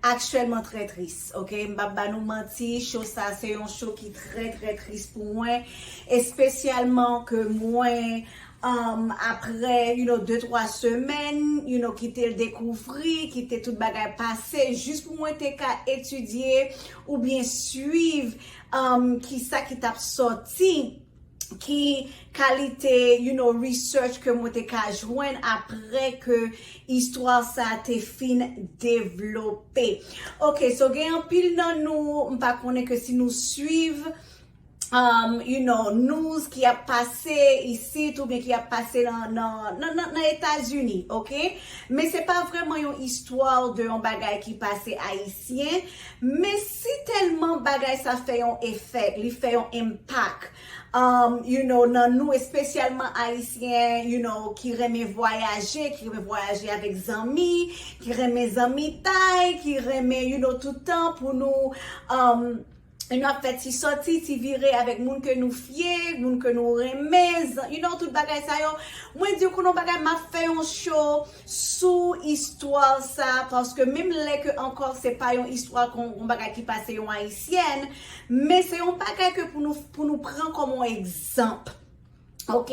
Aktyèlman trè tris ok m pap ba nou manti show sa se yon show ki trè trè tris pou mwen espesyalman ke mwen umm aprè you know de twa semèn you know kite l dekouvri kite tout bagay pase jis pou mwen te ka etidye oubyen swiv umm kisa ki tap sòti. ki kalite you know research ke mwen te ka jwenn apre ke istwa sa te fin devlope ok so gen anpil nan nou m pa konnen ke si nou swiv um you know news ki ap pase isit ou byen ki ap pase nan etazini ok men se pa vreman yon istwa de yon bagay ki pase ayisyen men Si tèlman bagay sa fè yon effect, li fè yon impact um you know nan nou espesyalman ayisyen you know ki renmen vwayaje, ki renmen vwayaje avèk zanmi, ki renmen zanmitay, ki renmen you know tout tan pou nou um you know ap fè ti sòti, ti vire avèk moun ke nou fye, moun ke nou renmen, zan you know tout bagay sa yo, mwen diw konnen yon bagay map fè yon show sou istwa sa paske menm lè ke ankò se pa yon istwa kon yon bagay ki pase yon ayisyèn men se yon bagay ke pou nou pou nou pran kòm yon egzanp ok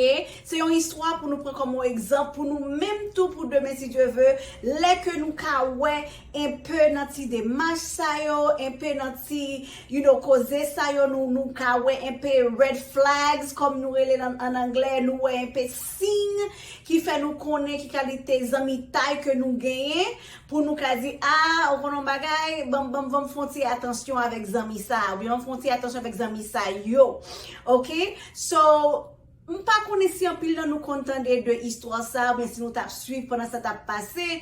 se yon istwa pou nou pran kòm yon egzanp pou nou menm tou pou demen si Dye ve lè ke nou ka wè enpe nan ti demach sa yo enpe nan ti you know koze sa yo nou nou ka wè enpe red flags kòm nou rele l an anglè nou wè enpe Siy ki fè nou konnen ki kalite zanmitay ke nou genyen pou nou ka di, a, ou konnen yon bagay, banm, banm, banm fon ti atansyon avèk zanmi sa a, ou byen banm fon ti atansyon avèk zanmi sa yo. Ok? So, m pa konnen si anpil nan nou konn tande de istwa sa a, ou byen si nou t ap swiv pandan sa t ap pase,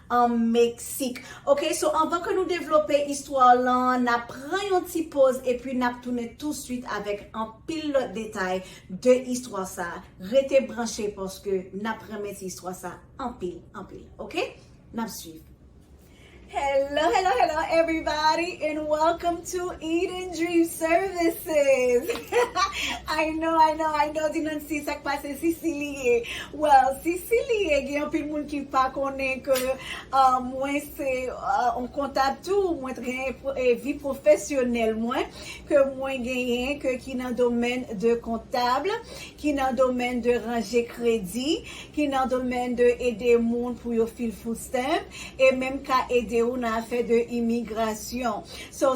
an Meksik. Ok so anvan ke nou devlope istwa lan nap pran yon ti poz epi nap tounen touswit avèk anpil lòt detay de istwa sa rete branche paske nap renmen ti istwa sa anpil anpil ok nap swiv. Hello hello hello everybody and welcome to Eden Dream Services I know I know I know di Nancy sak pase si si li ye Well si si li ye gen anpil moun ki pa konnen ke mwen se yon kontab tou mwen t gen vi profesyonèl mwen ke mwen genyen ke ki nan domèn de kontab ki nan domèn de ranje kredi ki nan domèn de ede moun pou yo fil food stamp e menm ka ede ou nan afè de imigrasyon so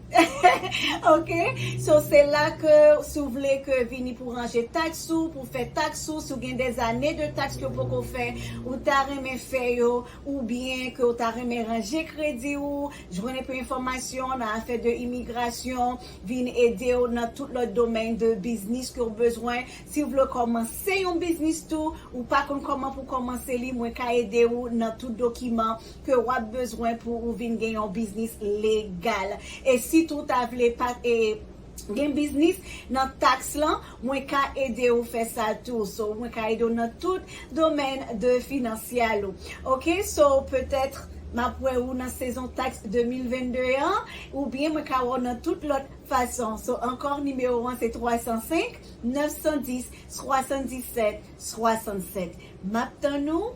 Ok so se la ke si w vle ke vini pou ranje tax ou pou fè tax ou si w gen des années de tax ke w poko fè ou ta renmen fè yo ou byen ke w ta renmen ranje kredi w jwenn enpe enfòmasyon nan afè de imigrasyon vin ede w nan tout lòt domèn de biznis ke w bezwen si w vle kòmanse yon biznis tou ou pa konn kòman pou w kòmanse li mwen ka ede w nan tout dokiman ke wap bezwen pou ou vin gen yon biznis legal e si tou ta vle pa gen biznis nan tax lan mwen ka ede ou fè sa tou so mwen ka ede ou nan tout domèn de finansyal ou ok so petèt map wè ou nan sezon tax 2022 an ou byen mwen ka wè ou nan tout lòt fason so ankò nimewo an se 305 910 77 67 map tann ou.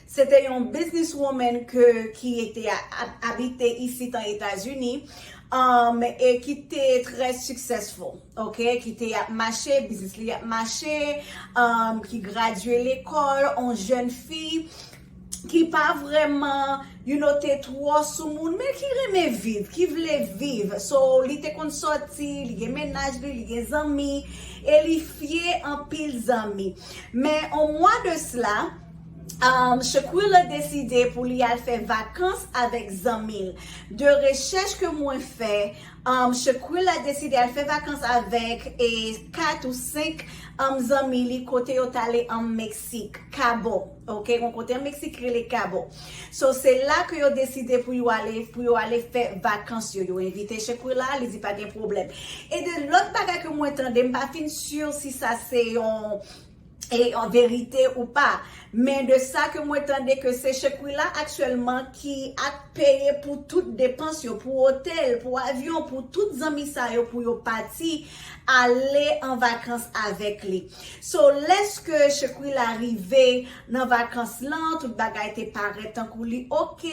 Se te yon business woman ke ki te ap abite isit an Etazini um e ki te trè successful ok ki te ap mache business li ap mache um ki gradye lekòl on jèn fi ki pa vrèman you know te twò sou moun men ki renmen viv ki vle viv so li te konn sòti li gen mennaj li li gen zanmi e li fye anpil zanmi men on mwa de sla. Shaquille deside pou li al fè vakans avèk zanmi l. De rechèch ke mwen fè, Shaquille deside al fè vakans avèk 4 ou 5 zanmi li kote yo t ale an Meksik, Cabo. Ok, gon kote an Meksik ki rele Cabo. So, se la ke yo deside pou yo ale, pou yo ale fè vakans yo. Yo envite Shaquilla, li di pa gen pwoblèm. E de lòt bagay ke mwen tande, m pa fin sur si sa se yon. e an verite ou pa men de sa ke mwen tande ke se Shequila aktyèlman ki ap peye pou tout depans yo pou otèl pou avyon pou tout zanmi sa yo pou yo pati ale an vakans avèk li so lèske Shequila rive nan vakans lan tout bagay te parèt tankou li ok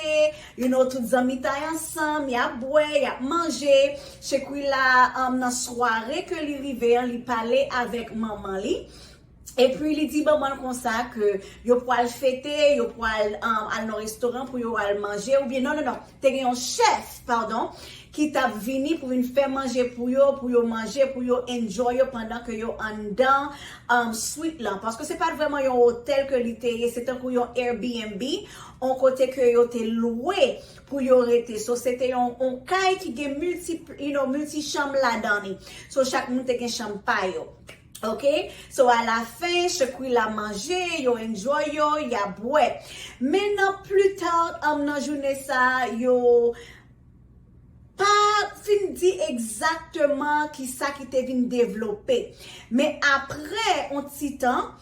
You know tout zanmitay ansanm, yap bwè, yap manje, Shequila nan sware ke li rive an li pale avèk manman li, epi li di manman l konsa ke yo pwal fete, yo pwal al nan restoran pou yo al manje oubyen non non non te gen yon chèf padon ki tap vini pou vin fè manje pou yo, pou yo manje, pou yo enjoy yo pandan ke yo anndan suite lan paske se pat vrèman yon otèl ke li te ye se tankou yon Airbnb On kote ke yo te lwe pou yo rete. So se te yon on kay ki gen multi, you know, multi chanm ladan li. So chak moun te gen chanm pa yo. Ok? So a la fen, Shaquilla manje, yo enjoy yo, y ap bwè. Men nan pli ta, um nan jounen sa a, yo. Pa fin di egzakteman ki sa ki te vin devlope. Men apre yon ti tan,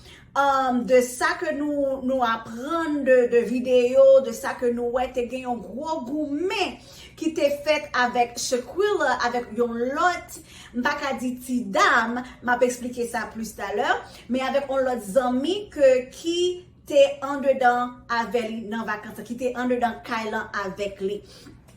de sa ke nou aprann de videyo, de sa ke nou wè, te gen yon gwo goumen ki te fèt avèk Shaquilla avèk yon lòt, m pa ka di ti dam, m ap esplike sa plis talè, men avèk yon lòt zanmi ke ki te andedan avè li nan vakans lan, ki te andedan kay lan avèk li.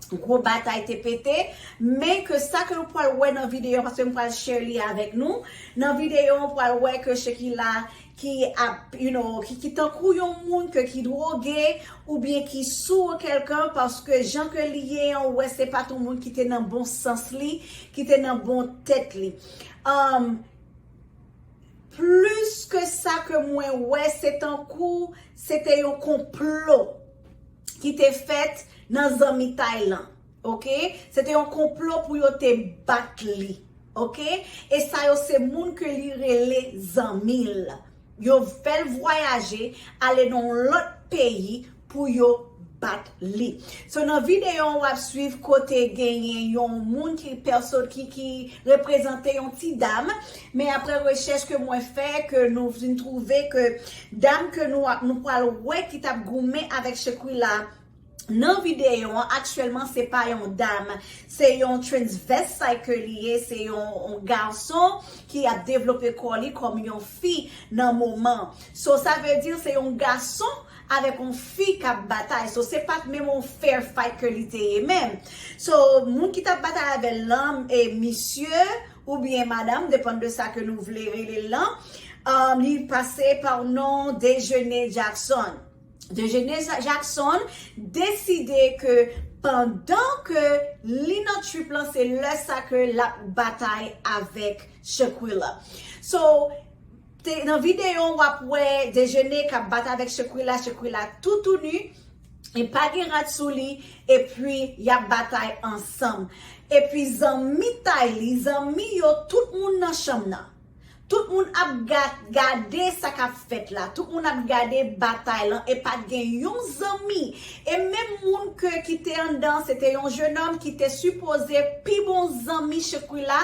Gwo batay te pete, men ke sa ke nou pwal wè nan videyo an, paske m pwal share li avèk nou, nan videyo an ou pwal wè ke Shekila ki ap, you know, ki tankou yon moun ke ki dwoge, oubyen ki sou ou kèlkan, paske jan ke li ye an ou wè se pat yon moun ki te nan bon sans li, ki te nan bon tèt li. Umm. Plus ke sa ke mwen wè se tankou se te yon konplo ki te fèt nan zanmitay lan ok se te yon konplo pou yo te bat li ok e sa yo se moun ke li rele zanmi l. Yo fèl vwayaje ale nan yon lòt peyi pou yo bat li. So nan videyo an wap swiv kote genyen yon moun ki pèso ki reprezante yon ti dam men aprè rechèch ke mwen fè ke nou vin twouve ke dam ke nou pwal wè ki tap goumen avèk Shekuila Nan videyo an aktyèlman se pa yon dam se yon transvestite ke li ye se yon gason ki ap devlope kò li kòm yon fi nan moman so sa vle di se yon gason avèk yon fi kap batay so se pat menm yon fair fight ke li te ye menm so moun ki tap batay avèl lan e misye oubyen madam depann de sa ke nou vle relel lan li pase pa yon non Dejeuner Jackson. Dejene Jackson deside ke pandan ke li nan trip lan se lè sa ke lap batay avèk Shakquilla. So, nan video wap wè Dejene kap batay avèk Shakquilla, Shakquilla tou tou nu, li pa gen rad sou li, epi yap batay ansanm. Epi zanmitay li, zanmi yo, tout moun nan chanm nan. Tout moun ap gade sa k ap fèt la, tout moun ap gade batay lan e pa t gen yon zanmi e menm moun ke ki te anndan an se te yon jenòm ki te sipoze pi bon zanmi Shkrila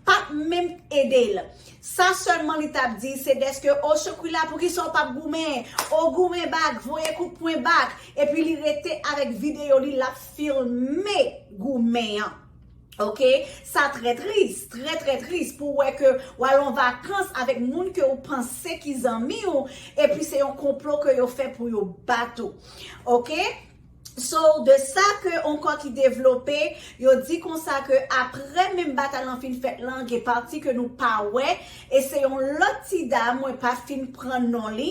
pa t menm ede l. Sa sèlman li t ap di se dèske o Shkrila pou kisa w pa p goumen, o goumen bak, voye kout pwen bak epi li rete avèk videyo li l ap filme goumen an. Ok sa trè tris, trè trè tris pou wè ke w al an vakans avèk moun ke w panse ki zanmi w epi se yon konplo ke yo fè pou yo bat ou. Ok So de sa ke yon kò ki devlope yo di konsa ke aprè menm batay lan fin fèt lan gen pati ke nou pa wè e se yon lòt ti dam mwen pa fin pran non li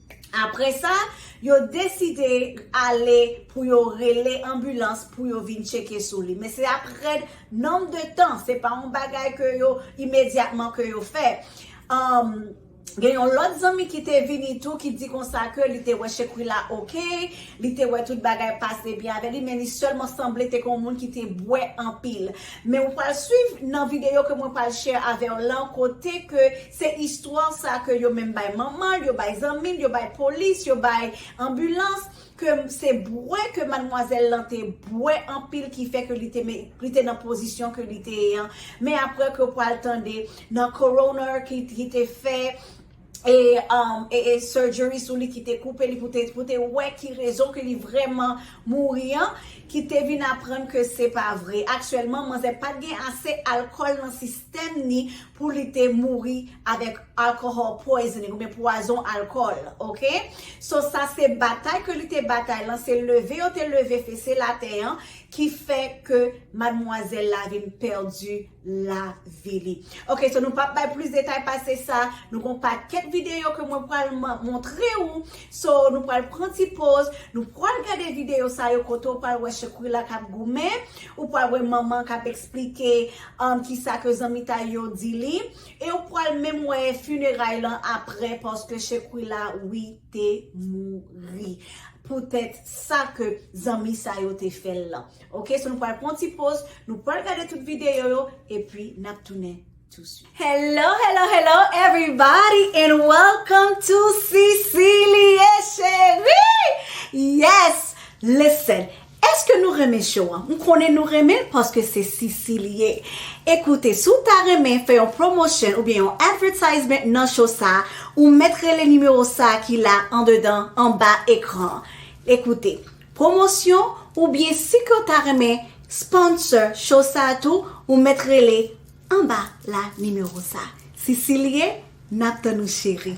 Apre sa, yo deside ale pou yo rele anbilans pou yo vin tcheke sou li. Men se ap rèd nonb de tan, se pa yon bagay ke yo imedyatman ke yo fè. Gen yon lòt zanmi ki te vini tou ki di konsa ke li te wè Shequilla ok, li te wè tout bagay pase byen avè li men li sèlman sanble te kon moun ki te bwè anpil. Men ou pral swiv nan videyo ke mwen pral share avèw lan kote ke Se istwa sa ke yo menm bay manman l, yo bay zanmi l, yo bay polis, yo bay anbilans, ke se bwè ke madmwazèl lan te bwè anpil ki fè ke li te met, li te nan pozisyon ke li te ye an. Men aprè ke w pral tande nan coroner ki ki te fè e e surgery sou li ki te koupe li pou te pou te wè ki rezon ke li vrèman mouri an, ki te vin aprann ke se pa vre. Aktyèlman manzè pat gen ase alkòl nan sistèm. Tèm ni pou li te mouri avèk alcohol poisoning oubyen pwazon alkòl ok so sa se batay ke li te batay lan se leve yo te leve fese latè an ki fè ke madmwazèl la vin pèdi lavi li ok so nou pap bay plis detay pase sa nou gon pakèt videyo ke mwen pwal montre ou so nou pwal pran ti poz nou pwal gade videyo sa yo kote ou pwal wè chekwi la kap goumen ou pwal wè manman kap eksplike An kisa ke zanmitay yo di li? E ou pwal menm wè funeray lan aprè paske Shequilla wi te mouri pou tèt sa ke zanmi sa yo te fèl lan ok so nou pwal pwan ti poz nou pwal gade tout video yo epi nap tounen tou swit. Hello hello hello everybody and welcome to Cicilie Cherie yes listen Eske nou renmen show an? M konnen nou renmen l paske se Sisi li ye. E koute, si w ta renmen fè yon promotion oubyen yon advertisement nan show sa, ou mèt rele nimewo sa ki la andedan anba ekran an. E koute, promosyon oubyen si ke w ta renmen sponsor show sa tou, ou mèt rele anba la nimewo sa. Sisi li ye, n ap tann ou cheri.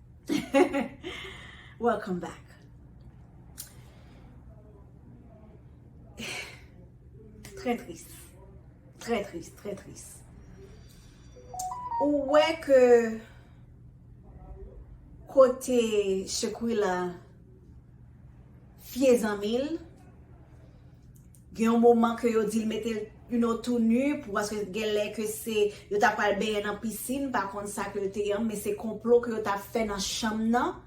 Welcome back. Très triste. Très triste, très triste. Ou wè ke kote Shequila fye zanmil, Gen yon moman ke yo dil metel you know tou nu pou paske genlè ke se yo ta pral benyen nan piscine m pa konn sa ke l te ye an men se konplo ke yo ta fè nan chanm nan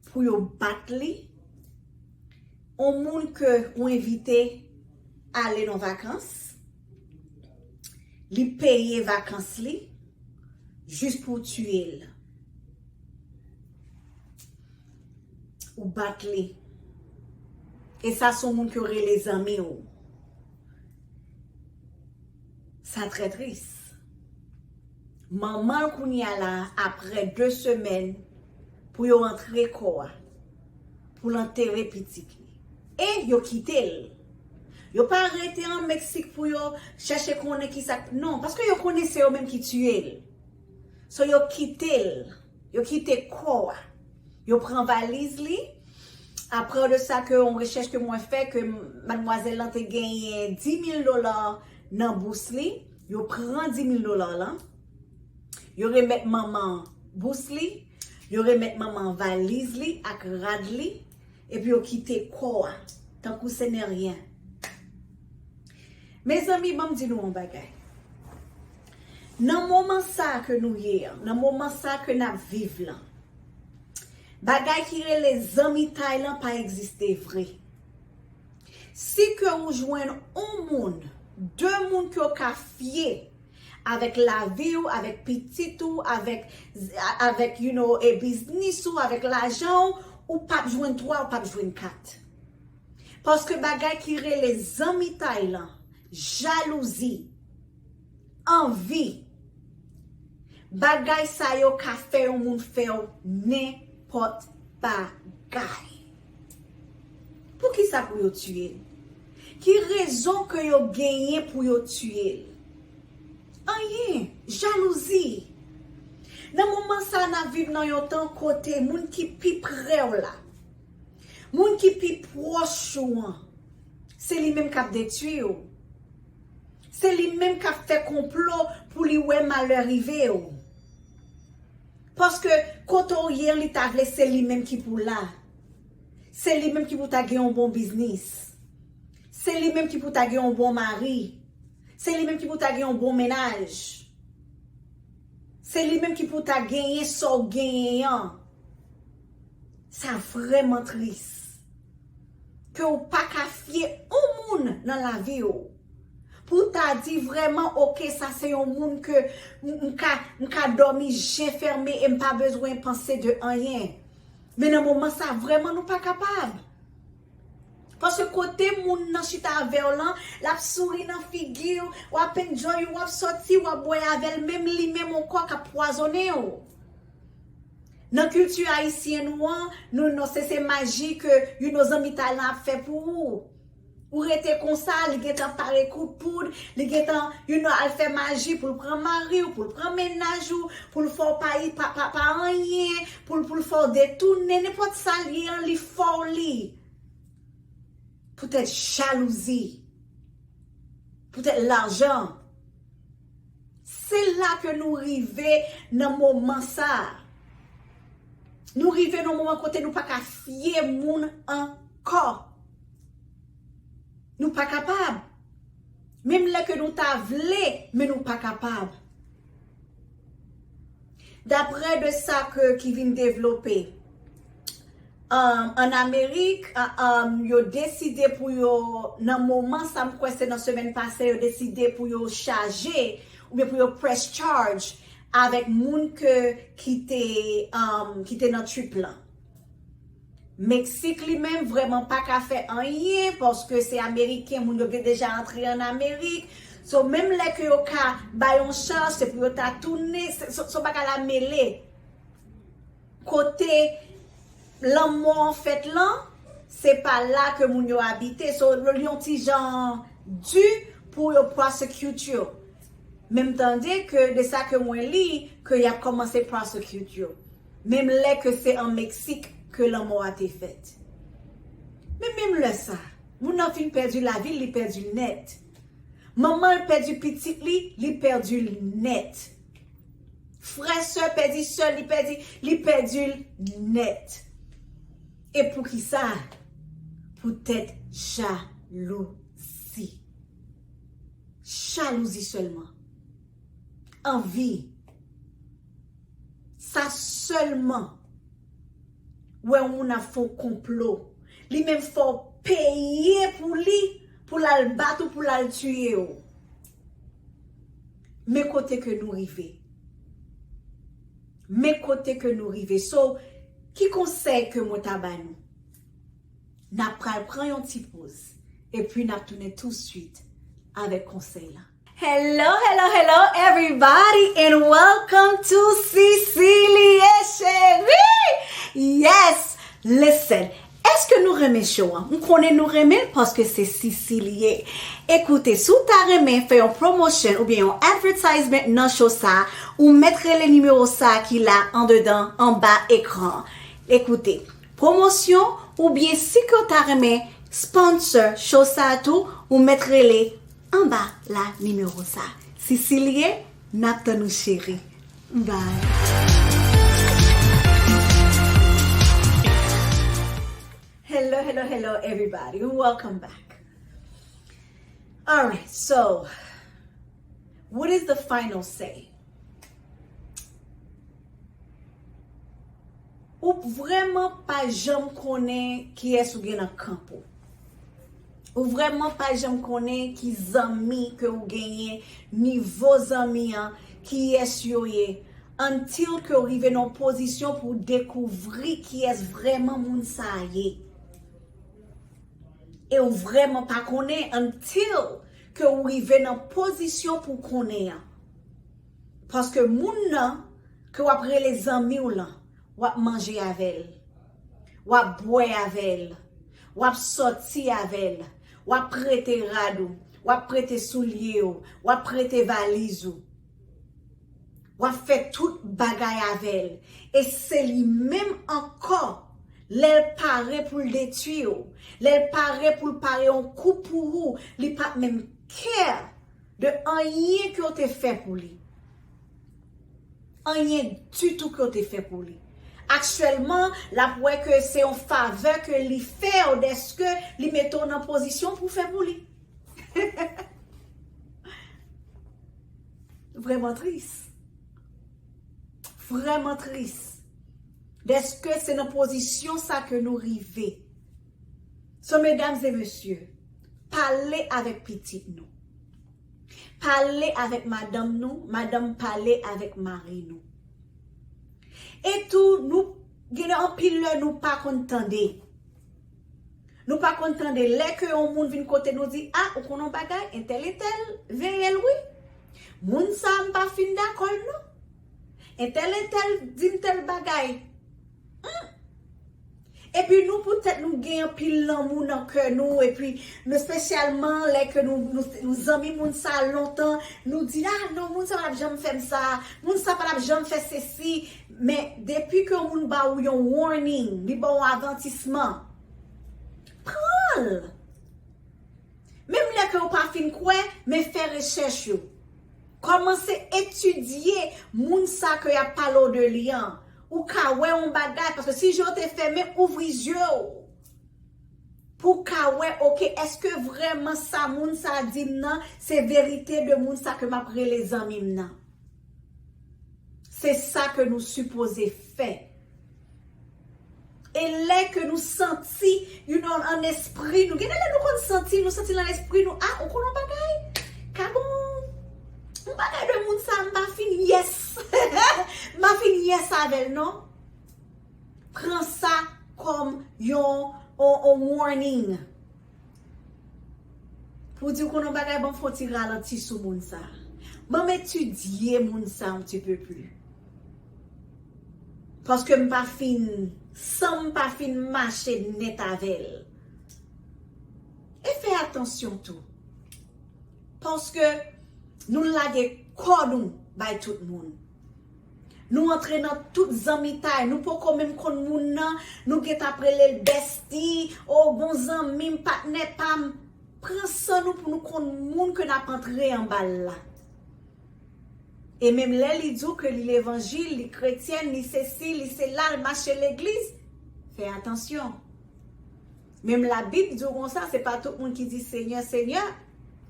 pou yo bat li on moun ke ou envite ale nan vakans li peye vakans li jis pou w tuye l. Ou bat li. E sa son moun ke w rele zanmi w. Sa trè tris. Manman l kounye a la apre 2 semèn pou yo antre kò a. Pou l antere pitit li. E yo kite l. Yo pa rete an Meksik pou yo chèche konnen kisa k. Non. Paske yo konnen se yo menm ki tiye l. So yo kite l. Yo kite kò a. Yo pran valiz li. Apre de sa ke yon rechèch ke mwen fè ke madmwazèl lan te genyen 10.000 dola nan bous li. Yo pran 10.000 dola lan. Yo remèt manman an bous li. Yo remèt manman an valiz li ak rad li. Epi yo kite kò a. Tankou se nè ryen. Mezanmi banm di nou yon bagay nan moman sa ke nou ye an nan moman sa ke nap viv lan bagay ki rele zanmitay lan pa egziste vre si ke ou jwenn yon moun 2 moun ke ou ka fye avèk lavi ou avèk pitit ou avèk avèk you know e biznis ou avèk lajan ou ou pap jwenn 3 ou pap jwenn 4. Paske bagay ki rele zanmitay lan, jalouzi, anvi, bagay sa yo ka fè yon moun fè w nenpòt bagay. Poukisa pou yo tiye l? Ki rezon ke yo genyen pou yo tiye l? Anyen, jalouzi. Nan moman sa a n ap viv nan yon tan kote moun ki pi pre w la, Moun ki pi pwòch ou an, se li menm k ap detwi ou. Se li menm k ap fè konplo pou li wè malè rive ou. Paske kote ou ye an li ta vle se li menm ki pou la. Se li menm ki pou ta gen yon bon biznis. Se li menm ki pou ta gen yon bon mari. Se li menm ki pou ta gen yon bon mennaj. Se li menm ki pou ta genyen sa w genyen an. Sa vreman tris ke ou pa ka fye on moun nan lavi ou. Pou w ta di vreman ok sa se yon moun ke m ka domi je ferme e m pa bezwen panse de anyen. Men nan moman sa vreman nou pa kapab. Paske kote moun nan chita ave w lan, l ap souri nan figi w, w ap enjoy ou, w ap soti, w ap bwe ave l, men li menm on kò k ap pwazone w. Nan kilti ayisyen nou an, nou non se se maji ke you no zanmitay lan ap fè pou ou. Ou rete konsa, li gen tan pare kout poud, li gen tan you no al fè maji pou l pran mari w, pou l pran mennaj ou, pou l fè w pa yi pa pa pa anyen, pou l pou l fè w detounen, nenpòt sa l ye an li fè w li. Poutèt jalouzi, poutèt lajan. Se la ke nou rive nan moman sa. Nou rive nan moman kote nou pa ka fye moun ankò. Nou pa kapab. Menm lè ke nou ta vle, men nou pa kapab. Daprè de sa ke ki vin devlope. an Amerik, yo deside pou yo, nan moman sa m kwè se nan semèn pase, yo deside pou yo chaje oubyen pou yo press charge avèk moun ke ki te ki te nan trip lan. Meksik li menm vrèman pa ka fè anyen paske se ameriken, moun yo gen deja antre an Amerik. So menm lè ke yo ka bay yon chaj se pou yo ta tounen, son bagay la mele. Kote lanmò an fèt lan, se pa la ke moun yo abite. So, li yon ti jan di pou yo prosecute yo. Men m tande ke de sa ke mwen li, ke y ap kòmanse prosecute yo. Menm lè ke se an Meksik ke lanmò a te fèt. Men menm lè sa, moun nan fin pèdi lavi l, li pèdi l nèt. Manman l pèdi pitit li, li pèdi l nèt. Frè sè pèdi sè li pèdi li pèdil nèt e poukisa poutèt jalouzi jalouzi sèlman anvi sa sèlman wè yon moun ap fè yon konplo li menm fè w peye pou li pou lal bat ou pou lal tiye w. Men kote ke nou rive. Men kote ke nou rive. So, ki konsèy ke mwen ta ba nou? Na pral pran yon ti poz. E pwi nap tounen tou swit avèk konsèy la. Hello hello hello everybody and welcome to Cicilie Cherie yes listen Eske nou renmen show an? M konnen nou renmen l paske se Sisi li ye. E koute, si w ta renmen fè yon promotion oubyen yon advertisement nan show sa, ou mèt rele nimewo sa ki la andedan anba ekran an. E koute, promosyon oubyen si ke w ta renmen sponsor show sa tou, ou mèt rele anba la nimewo sa. Sisi li ye, n ap tann ou cheri. Hello hello hello everybody welcome back alright so what is the final say ou vreman pa janm konnen kiyes ou gen nan kanp ou Ou vrèman pa janm konnen ki zanmi ke ou genyen, nivo zanmi an, kiyès yo ye. Until ke ou rive nan yon pozisyon pou ou dekouvri kiyès vrèman moun sa a ye. E ou vrèman pa konnen until ke ou rive nan pozisyon pou ou konnen an. Paske moun nan ke w ap rele zanmi w lan, w ap manje avè l. Wap bwè avèl. Wap sòti avèl. Wap prete rad ou. Wap prete soulye ou. Wap prete valiz ou. Wap fè tout bagay avèl. E se li menm ankò lèl pare poul detwi ou. Lèl pare poul pare yon kou pou ou. Li pap menm care de anyen ke ou te fè pou li. Anyen ditou ke w te fè pou li. Aktyèlman, l ap wè ke se yon favè ke li fè w dèske li mete w nan pozisyon pou w fè pou li. Vrèman tris. Vrèman tris. Dèske se nan pozisyon sa ke nou rive. So medam e mesye, pale avèk pitit nou. Pale avèk madanm nou, madanm pale avèk mari nou. E tou nou gen anpil lè nou pa konn tande. Nou pa konn tande lè ke yon moun vin kote nou di a ou konnen yon bagay entèl entèl veye l wi. Moun sa a m pa fin dakò l non. Entèl entèl di m tèl bagay. Humm. Epi nou pou tèt nou gen anpil lanmou nan kè nou epi mespesyalman lè ke nou nou zanmi moun sa lontan nou di ah non moun sa patap janm fèm sa moun sa patap janm fè sesi men depi ke yon moun ba ou yon warning li ba ou avantisman pranl menm lè ke ou pa fin kwè men fè rechèch ou kòmanse etidye moun sa ke yap pale w de li an Ou ka wè yon bagay paske si je w te fèmen ouvri zye w pou w ka wè ok eske vrèman sa moun sa di m nan se verite de moun sa ke m ap rele zanmi m nan. Se sa ke nou sipoze fè. E lè ke nou santi you nonm an espri nou, gen de lè nou konn santi, nou santi lan espri nou, ah ou konn yon bagay? Ka gon yon bagay de moun sa m pa fin yes, m pa fin yes avè l non. Pran sa kòm yon yon warning. Pou di w konn yon bagay banm fon ti ralanti sou moun sa. Banm etidye moun sa yon ti peu plus. Paske m pa fin sanm pa fin mache nèt avèl. E fè atansyon tou. Paske nou lage kò nou bay tout moun. Nou antre nan tout zanmitay, nou poko menm konn moun nan, nou gen tap rele l besti, oh bon zanmi m, patnè pa m. Pran san nou pou nou konn moun ke nap antre anba l la. E menm lè li di w ke li levanjil, li kretyèn, li sesi, li sela, l mache legliz, fè atansyon. Menm labib di w konsa se pa tout moun ki di senyè senyè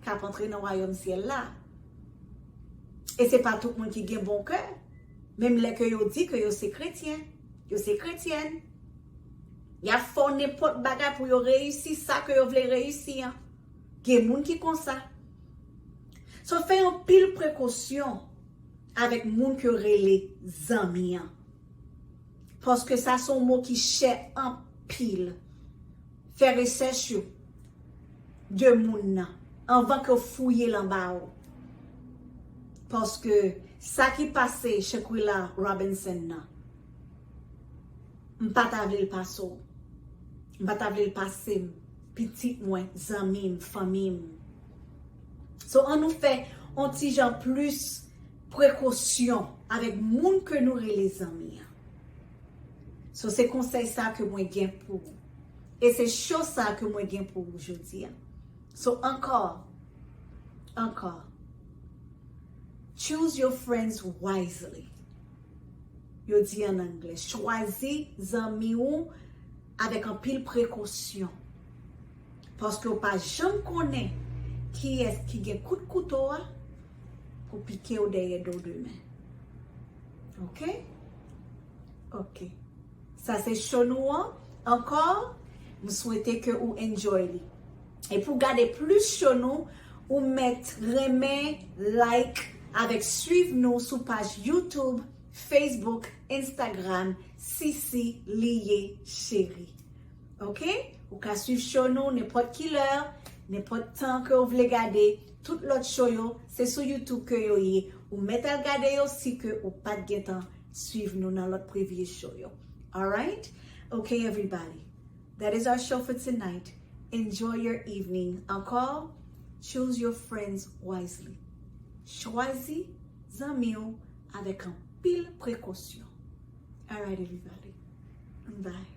kap antre nan wayòm syèl la e se pa tout moun ki gen bon kè menm lè ke yo di ke yo se kretyen yo se kretyèn yap fè w nenpòt bagay pou yo reyisi sa ke yo vle reyisi an gen moun ki konsa so fè yon pil prekosyon avèk moun ke w rele zanmi an. Paske sa son mo ki chè anpil. Fè resèch ou de moun nan anvan ke w fouye l anba w. Paske sa ki pase Shanquella Robinson nan, m pa ta vle l pase w. M pa ta vle l pase m, pitit mwen, zanmi m, fanmi m. So an nou fè yon ti jan plis. prekosyon avèk moun ke nou rele zanmi an so se konsèy sa ke mwen gen pou ou e se cho sa ke mwen gen pou ou jodi a so ankò ankò choose your friends wisely yo di an anglè chwazi zanmi ou avèk anpil prekosyon. Paske ou pa janm konnen kiyès ki gen kout kouto a pou pike ou dèyè do demen. Ok? Ok. Sa se show nou an. Ankò, m swete ke ou enjoy li. E pou gade plis show nou, ou mèt renmen, like, avèk swiv nou sou paj YouTube, Facebook, Instagram, Sisi li ye cheri. Ok ou ka swiv show nou nenpòt ki lè, nenpòt tan ke ou vle gade tout lòt show yo se sou youtube ke yo ye ou mèt al gade yo si ke ou pat gentan swiv nou nan lòt previous show yo alright ok everybody that is our show for tonight enjoy your evening ankò choose your friends wisely chwazi zanmi ou avèk anpil prekosyon alright everybody bye.